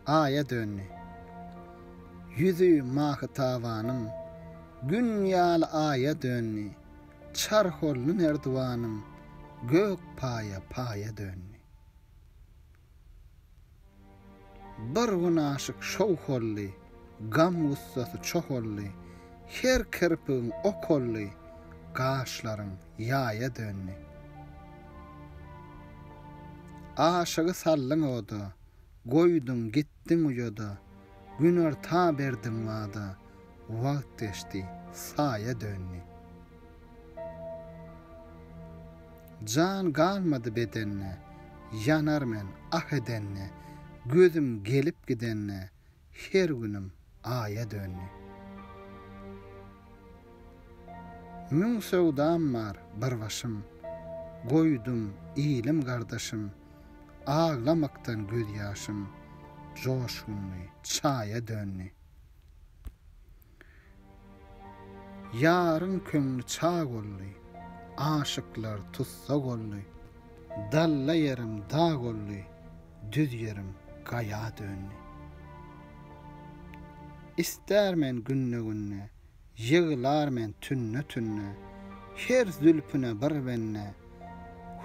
Aýa döndi. Ýüzi Mahytabanyň Gün ýaly aýa döndi, Çar holly nerdiwanyň Gök paýa paýa döndi. Bir gün aşyk şowh oldy, Gam-gussasy çoh oldy, Her kirpigiň ok oldy, Gaşlaryň ýaýa döndi. Aşygy saldyň oda, Goýduň, gitdiň uýada, Günorta berdiň wada, Wagt geçdi, saýa döndi. Jan galmady bedende, Ýanar men ah edende, Gözüm gelip gidende, Her günüm aýa döndi. Müň söwdam bar bir başym, Goýdum ilim-gardaşym, Aglamakdan gözýaşym, Joşgunly çaýa döndi. Ýaryň köňli çag oldy. Aşyklar tussag oldy. Dalla ýerim dag oldy. Düz ýerim gaýa döndi. Ister men günde-günde. Ýyglar men tünde-tünde. Her zülpüne bir bende.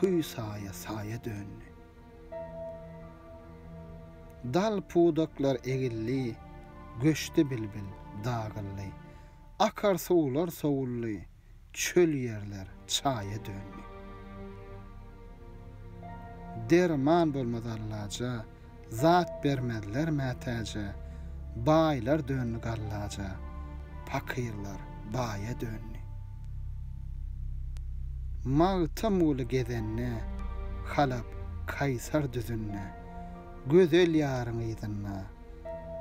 Hüý saýa saýa döndi. Dal pudaklar egildi, göçdi bilbil, dagyldy. Akar suwlar sowuldy, çöl ýerler çaýa döndi. Derman bolmaz allaja, zat bermezler mätäje, baýlar döndi gallaja, pakyrlar. baýa döndi. Magtymguly gezende Halap Kaýsar düzünde Gözel ýaryň yzynda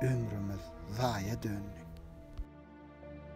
ömrümiz zaýa döndi.